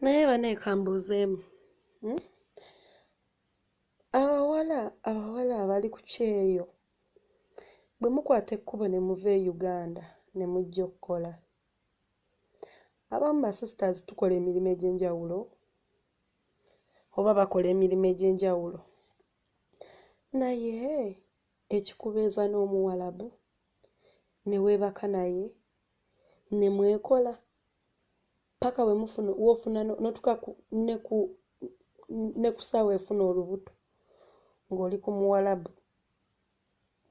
naye banaye kambuuzeemu hmm? abawala abawala abali ku kyeyo bwe mukwata ekkubo ne muva e uganda ne mujja okukola abamu basisters tukola emirimu egy'enjawulo oba bakola emirimu egy'enjawulo naye ekikubeeza n'omuwalabu ne weebaka naye ne mwekola paka we mufuna wofuna notuka ne ku ne kusaawa efuna olubuto ng'oli ku muwalabu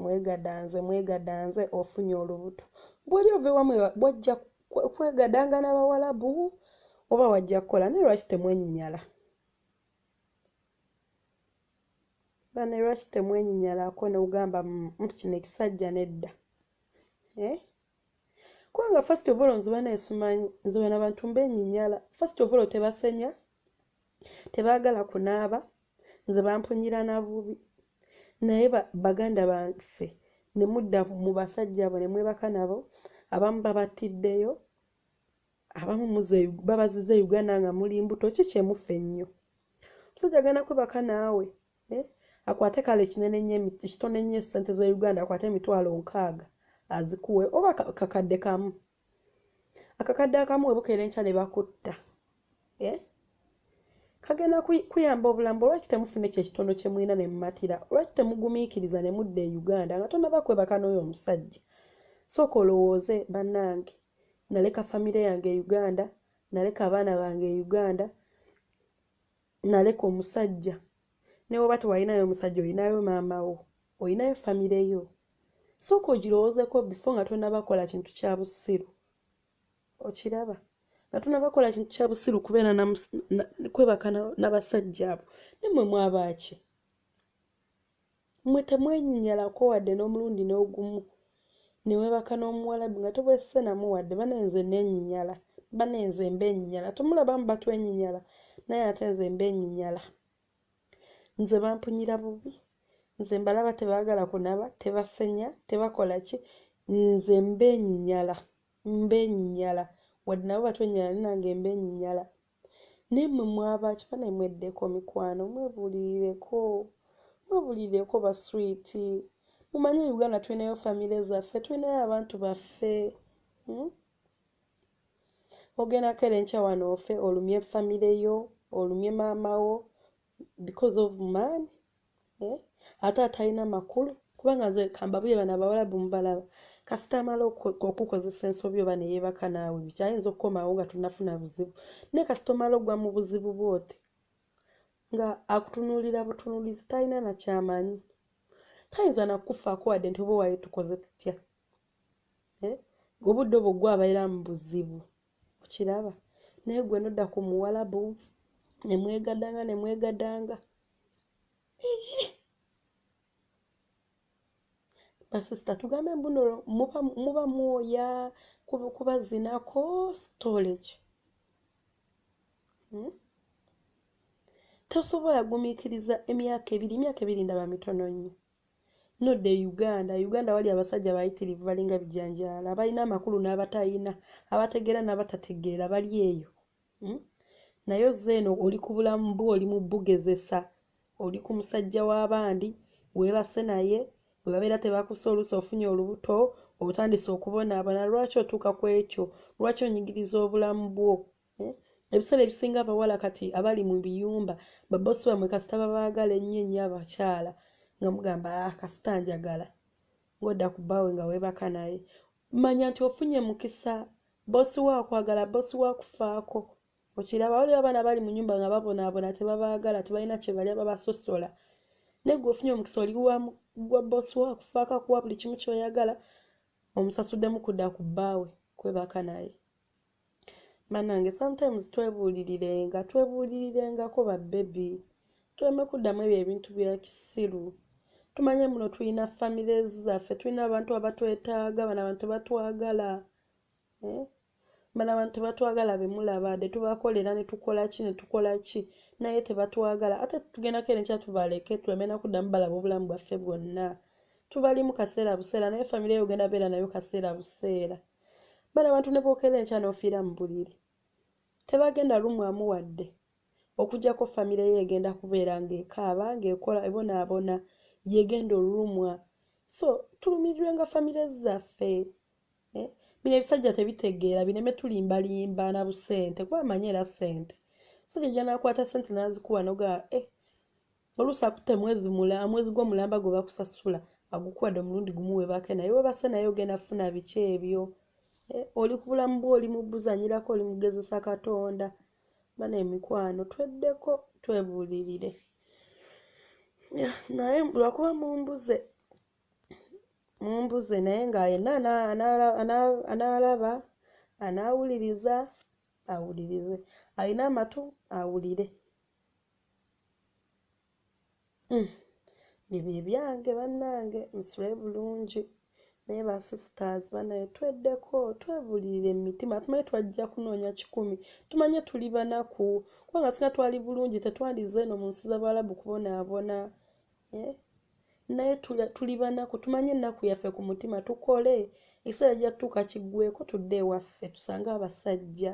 mwegadanze mwegadanze ofunye olubuto bwoli ova ewamu bwajja kwegadanga n'abawalabu oba wajja kukola naye lwaki temwenyinyala Bane lwaki temwenyinyalako nogamba mtu kino ekisajja nedda eh? kubanga first of all nziba nesumanyi nziba nabantu mbenyinyala first of all tebasenya tebagala kunaaba nze bampunyira nabubi naye baganda baffe nemudda mu basajja abo nemwebaka nabo abamu babattiddeyo abamu muze babaziza e uganda nga muli mbuto ki kyemuffe ennyo omusajja agenda kwebaka naawe eh? akwate kale kinene nyo ekitone nyo esente za uganda akwate emitwalo nkaaga azikuwe oba kakadde kamu akakadde akamu webukeera enkya ne bakutta eh? kagenda kuyamba obulamu olwaki temufuna ekyo ekitono kyemulina nemumatira olwaki temugumiikiriza nemudda e uganda nga tonaba kwebaka n'oyo omusajja sooka olowooze bannange naleka famire yange e uganda naleka abaana bange e uganda naleka omusajja newoba tewalinayo omusajja olinayo maama wo olinayo famire yo sooka ogirowoozeko bifo nga tonabakola kintu kya busiru okiraba nga tonabakola kintu kya busiru kubeera kwebaka nabasajja abo nemwe mwabaaki Mmwe temwenyinyalako wadde n'omulundi n'ogumu ne weebaka n'omuwalabu nga tobeesise namu wadde. Bane nze nneenyinyala. Bane nze mbeenyinyala. Temulaba abamu batwenyinyala naye ate nze mbeenyinyala. Nze bampunyira bubi. Nze mbalaba tebaagala kunaba, tebasenya, tebakola ki. Nze mbeenyinyala. Mbeenyinyala. Wadde nabo batwenyinyala naye nange mbeenyinyala. naye mwe mwabaaki banaye mweddeko mikwano mwebulirireko mwebulirireko baswiti mumanye e uganda tulinayo famire zaffe tulinayo abantu baffe hmm? ogenda kera enkya wano ofe olumye famire yo olumye maama wo because of man eh? ate atalina makulu kubanga nze kambabuye bano abawalabu mubalaba kasita amala okukozesa ensobi oba neyebaka naawe biki ayinza okukomawo nga tonafuna buzibu naye kasita omala ogwa mu buzibu bwote nga akutunuulira butunuulizi talina nakyamanyi tayinza nakufaako wadde nti oba waye tukoze tutya eh? obudde obwo gwe abeera mu buzibu okiraba naye gwe nodda ku muwalabu nemwegadanga nemwegadanga basista tugambe mbuno muba, muba mwoya kuba zinako storage hmm? tosobola gumikiriza emyaka ebiri emyaka ebiri ndaba mitono nnyo No the Uganda. Uganda wali abasajja bayitirivu balinga bijanjaalo abalina amakulu n'abatayina, abategeera n'abatategeera bali eyo. Hmm? Naye ozze eno oli ku bulamu bwo oli mu bugezesa. Oli ku musajja w'abandi, weebase naye, bwe babeera tebakusa oluusi ofunye olubuto, otandise okubonaabona. Lwaki otuuka ku ekyo? Lwaki onyigiriza obulamu bwo? Eh? ebiseera ebisinga abawala kati abali mu biyumba babosi bamwe kasita babaagala ennyo ennyo abakyala nga mugamba ah, kasita njagala ng'odda ku bbaawe nga weebaka naye manya nti ofunye mukisa bosi wo akwagala bosi wo akufaako okiraba waliwo abaana bali mu nyumba nga babonaabona tebabaagala tebalina kyebalya babasosola naye gwe ofunye omukisa oli gwa bosi wo akufaako akuwa buli kimu kyoyagala omusasuddemu kudda ku bbaawe kwebaka naye banange sometimes twebuulirirenga twebuulirirengako babebi tuleme kuddamu ebyo ebintu bya kisiru tumanye muno tulina famire zaffe tulina abantu abatwetaaga bano abantu batwagala eh? bano abantu batwagala bemulabade tubakolera netukola ki netukola ki naye tebatwagala ate tugendako ere nkya tubaleke tuleme nakuddamu balaba obulamu bwaffe bwonna tubali mu kaseera buseera naye famire yo ogenda beera nayo kaseera buseera bano abantu ne bwokera enkya n'ofiira mu buliri tebagenda lumwamu wadde okujjako famire ye egenda kubeera ng'ekaaba ng'ekola ebonaabona yegenda olulumwa so tulumirirwe nga famire zaffe eh, bino ebisajja tebitegeera bireme tulimbalimba na busente kuba amanyi era sente musajja janakwata sente nazikuwa nogaa eh, oluusi akutte mwezi mulamba mwezi gwo mulamba gwe bakusasula agukuwadde omulundi gumu webake naye webase naye ogenda funa biki ebyo e, oli ku bulamu bwe oli mubuzanyirako oli mugezesa katonda bana emikwano tweddeko twebulirire naye lwakuba mumbuze mumbuze naye nga yenna anaalaba anaawuliriza awulirize alina amatu awulire Mm. bibye byange bannange musule bulungi naye ba sisters banaye tweddeko twebulirira emitima tumanye twajja kunoonya kikumi tumanye tuli banaku kubanga singa twali bulungi tetwandize eno mu nsi z'abalabu kubonaabona eh? naye tuli banaku tumanye ennaku yaffe ku mutima tukole ekiseera gyattuuka kiggweko tudde ewaffe tusange abasajja